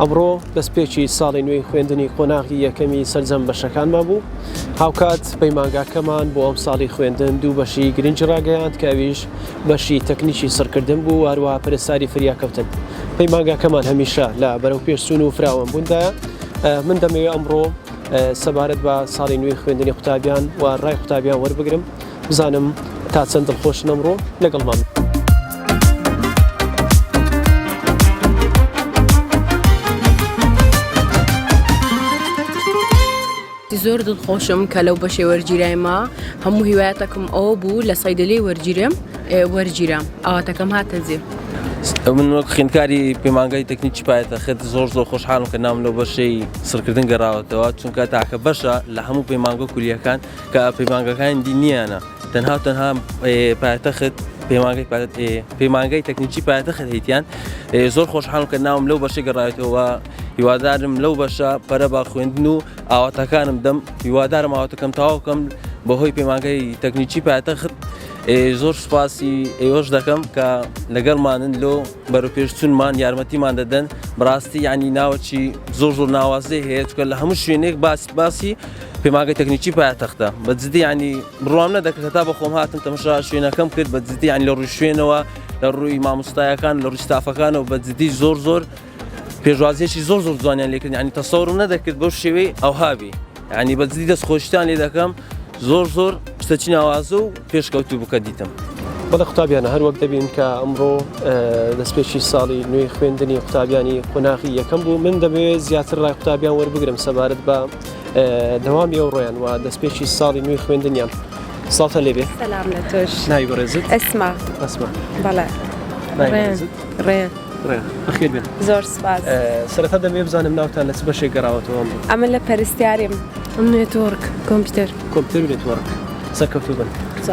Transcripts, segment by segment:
ئەمڕۆ دەستپێکی ساڵی نوێی خوێندنی قۆناغی یەکەمی سەرجەم بەشەکانمان بوو هاوکات پەیمانگاکەمان بۆ ئەم ساڵی خوێندن دوو بەشی گرنج ڕاگەیاند کەویش بەشی تەکنیکی سڕکردن بوو واروە پرستاری فریاکەوتن پەیمانگاکەمان هەمیشە لە بەرەو پێشسون و فراوان بووندا من دەمەوێت ئەمڕۆ سەبارەت بە ساڵی نوێی خوێندنی قوتابیان و ڕای قوتابیان وەربگرم بزانم تا چەند دڵخۆشن ئەمڕۆ لەگەڵمان. زۆر دڵخۆشم کە لەو بەشێ وەرگیرایمە هەموو هیوایەتەکەم ئەو بوو لە سایدلی وەرگیرم وەرگیرام ئاواتەکەم هاتەجێ. من وەک خوێندکاری پەیمانگای تەکنیکی پایەتە خێت زۆر زۆر خۆشحالم کە ناوم لەو بەشەی سڕکردن گەڕاوەتەوە چونکە تاکە بەشە لە هەموو پەیمانگە کولیەکان کە پەیمانگاکانی دی نیانە تەنها و تەنها پایتەخت پەیمانگای تەکنیکی پایتەخت هیتیان زۆر خۆشحاڵم کە ناوم لەو بەشە گەڕایەوە هیوادارم لەو بەشە پەرە با خوێندن و ئاواتەکانم دەم هیوادارم ئاواتەکەم تاواکەم بەهۆی پەیمانگای تەکنیکی پایتەخت زۆر سوپاسی ئێوەش دەکەم کە لەگەڵمانن لۆ بەرەوپێشچونمان یارمەتیمان دەدەن بڕاستی یعنی ناوەچی زۆر زۆر ناوازەی هەیە چکە لە هەموو شوێنێک باس باسی پێماگە تەکنیکی پایتەختە بە جدی ینی بڕام نەدەکرێت تا بەخۆم هاتم تەمەشا شوێنەکەم کرد بە جدی یان لە ڕووی شوێنەوە لە ڕووی مامۆستایەکان لە ڕیستافەکانەوە بە جدی زۆر زۆر پێشوازیێکی زۆر زۆر جوانیان لێکرد ینی تەسەورم نەدەکرد بەو شێوەی ئەوهابی یانی بەجدی دەست خۆشتان لێ دەکەم زۆر زۆر شتە چی ناوازە و پێشکەوتو بکە دیتم. بەڵە قوتابیانە هەروەک دەبین کە ئەمڕۆ دەستپێکی ساڵی نوێی خوێندنی قوتابیانی قۆناغی یەکەم بوو من دەبێت زیاتر ڕای قوتابیان وەربگرم سەبارەت بە دەوامی ئەو ڕۆیان و دەستپێکی ساڵی نوێی خوێندنیان ساڵتە لێبێ ناوی بەڕێزت ئەسما ئەسما بەڵێ ڕێن ڕێن بەخێر بێت زۆر سپاس سەرەتا دەمێ بزانم ناوتان لە چ بەشێک گەڕاوەتەوە ئەمە لە پەرستیاریم نێتۆرک کۆمپیوتەر کۆمپیوتەر نێتۆرک سەرکەوتو بن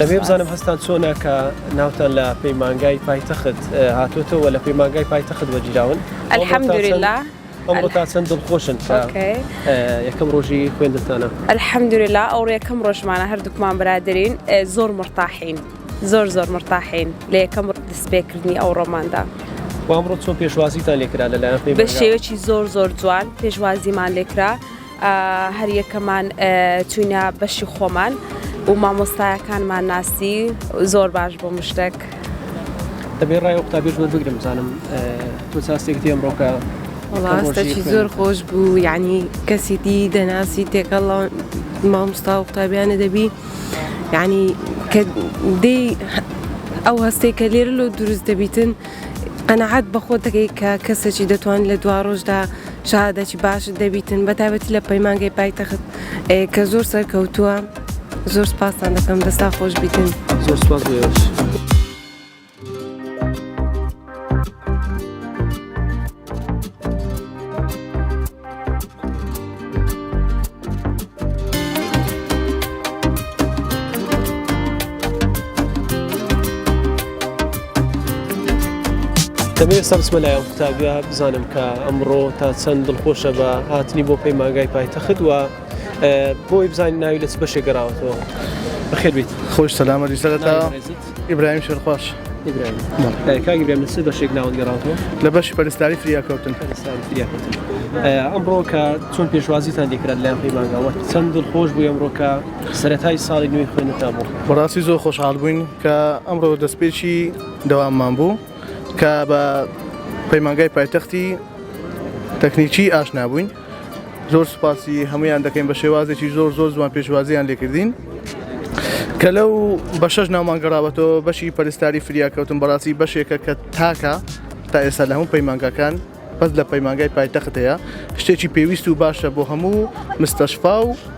دەبێ بزانم هەستان چۆنە کە ناوتان لە پەیمانگای پایتەخت هاتوتەوە لە پەیمانگای پایتەخت وەگیراون ئەلحەمدورلا ئەمڕۆ تا چەند دڵخۆشن یەکەم ڕۆژی خوێندتانە ئەلحەمدورلا ئەو ڕێکەم ڕۆژمانە هەردووکمان برادرین زۆر مڕتاحین زۆر زۆر مرتاحین لە یەکەم دەستپێکردنی ئەو ڕۆماندا. و ئەمڕۆ چۆن پێشوازیتان لێکرا لەلایەن خوێنەران؟ بە شێوەیەکی زۆر زۆر جوان پێشوازیمان لێکرا هەریەکەمان چوینە بەشی خۆمان و مامۆستایەکانمان ناسی زۆر باش بۆ مشتێک دەبێ ڕای قوتابێش بەر بگرم زانم تۆ ساستێک دێم ڕۆکە وڵاستێکی زۆر خۆش بوو یعنی کەسی دی دەناسی تێکەڵ مامۆستا و قوتابیانە دەبی یەعنی کە دێی ئەو هەستەی کە لێرە لۆ دروست دەبیتن قەنەعات بەخۆ دەکەی کە کەسێکی دەتوان لە دوا ڕۆژدا شادەکی باشت دەبیتن بە تابەتی لە پەیمانگەی پایتەخت کە زۆر سەرکەوتووە زۆر سپاسان دەکەم دەستا خۆش بیتن زۆر سپاس. دەمێ سەمسمە لایەن قوتابیا بزانم کە ئەمڕۆ تا چەند دڵخۆشە بە هاتنی بۆ پەیمانگای پایتەخت وە بۆی بزانین ناوی لەچ بەشێ گەراوەتەوە بەخێبیت خۆش سەلامەری سەرەتا ئیبراهیم شێرخواش ئیبراهیم بەڵێ. کاک ئیبراهیم لە چ بەشێک ناوت گەڕاوەتەوە؟ لە بەشی پەرستاری فریاکەوتن. پەرستاری فریاکەوتن. ئەمڕۆ کە چۆن پێشوازیتان لێ کرا لەلایەن خوێی مانگاوە؟ چەند دڵخۆش بووی ئەمڕۆ کە سەرەتای ساڵی نوێی خوێندنتان بوو؟ بەڕاستی زۆر خۆشحاڵ بووین کە ئەمڕۆ دەستپێکی دەواممان بوو کە بە پەیمانگای پایتەختی تەکنیکی ئاشنا بووین. زۆر سوپاسی هەمویان دەکەین بە شێوازێکی زۆر زۆر جوان پێشوازیان لێکردین کە لەو بە شەش ناومان گەڕاوەتەوە بەشی پەرستاری فریاکەوتن بەڕاستی بەشێکە کە تاکە تا ئێستا لە هەموو پەیمانگاکان بەس لە پەیمانگای پایتەخت هەیە شتێکی پێویست و باشە بۆ هەموو مستەشفا و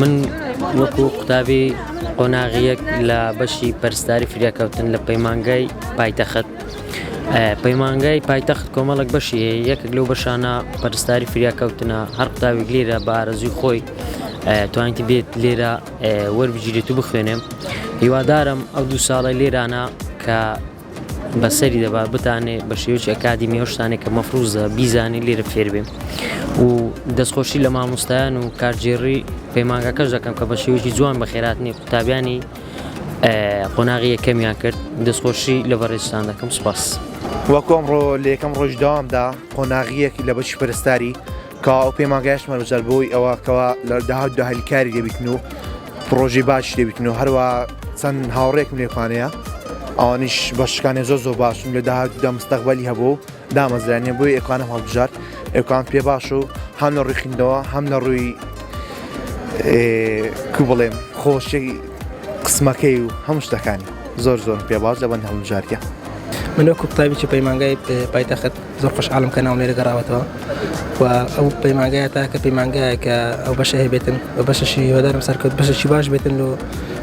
من وەکو قوتابی قۆناغیەک لە بەشی پەرستاری فریاکەوتن لە پەیمانگای پایتەخت پەیمانگای پایتەخت کۆمەڵک بەشی یەکێک لەو بەشانە پەرستاری فریاکەوتنە هەر قوتابێک لێرە بە ئارەزوی خۆی توانیتی بێت لێرە وەربگیرێت و بخوێنێم هیوادارم ئەو دوو ساڵی لێرانە کە بەسەری دەبا بتانێ بە شێوەی ئەکادیمی ئەو شتانێک کە مەفروزە بیزانین لێرە فێربێ و دەستخۆشی لە مامۆستایان و کارگێڕی پەیمانگەکەش دەکەم کە بە شێوەی جوان بە خێراتنی قوتابیانی قۆناغی یەکەمیان کرد دەستخۆشی لە بەڕێزتان دەکەم سوپاس. وەکو ئەمڕۆ لە یەکەم ڕۆژی دەوامدا قۆناغیەک لە بەشی پەرستاری کەوا ئەو پەیمانگایەش مەرجە بۆی ئەوە کەوا لە داهاتدا هەلی کاری دەبیتن و پڕۆژی باش دەبیتن و هەروە چەند هاوڕێکم لێکانەیە ئەوانیش بەشکانێ زۆ زۆ باشن لە داهاتدا مستەقبلی هەبوو دامەزرانە بۆی ئەکانە هەڵبژار ئەوکان پێ باش و هەم لە ڕوخیندەوە هەم لە ڕووی کو بڵێم خۆشی قسمەکەی و هەم شتەکانی زۆر زۆر پێ باش لەبەن هەڵبژارکە منۆ کوپتابی چ پەیمانگای پایتەخت زۆر خۆشحاڵم کە ناوم لێرە گەڕاوەتەوە و ئەو پەیمانگایە تاکە پەیمانگایە کە ئەو بەشە هەبێتن و بەشەشی هێدارم سەرکەوت بەشەشی باش بێتن و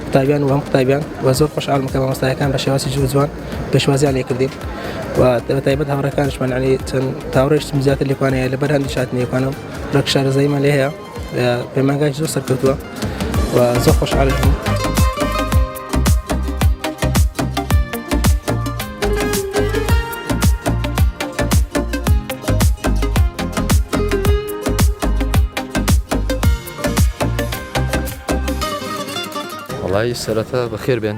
قوتابیان و هەم قوتابیان و زۆر خۆشحاڵم کە مامۆستایەکان بە شێواسی جوو جوان پێشوازیان لێ کردین و تایبەت هاوڕەکانشمان علی چەند تاوڕێشتم زیاتر لێکوانەیە لە بەرهەندی شاتنیەکانم ڕەک شارەزاییمان لێ هەیە پەیمانگای زۆر سەرکەوتووە و زۆر خۆشحالش بوو. وڵی سەرەتا بەخێر بێن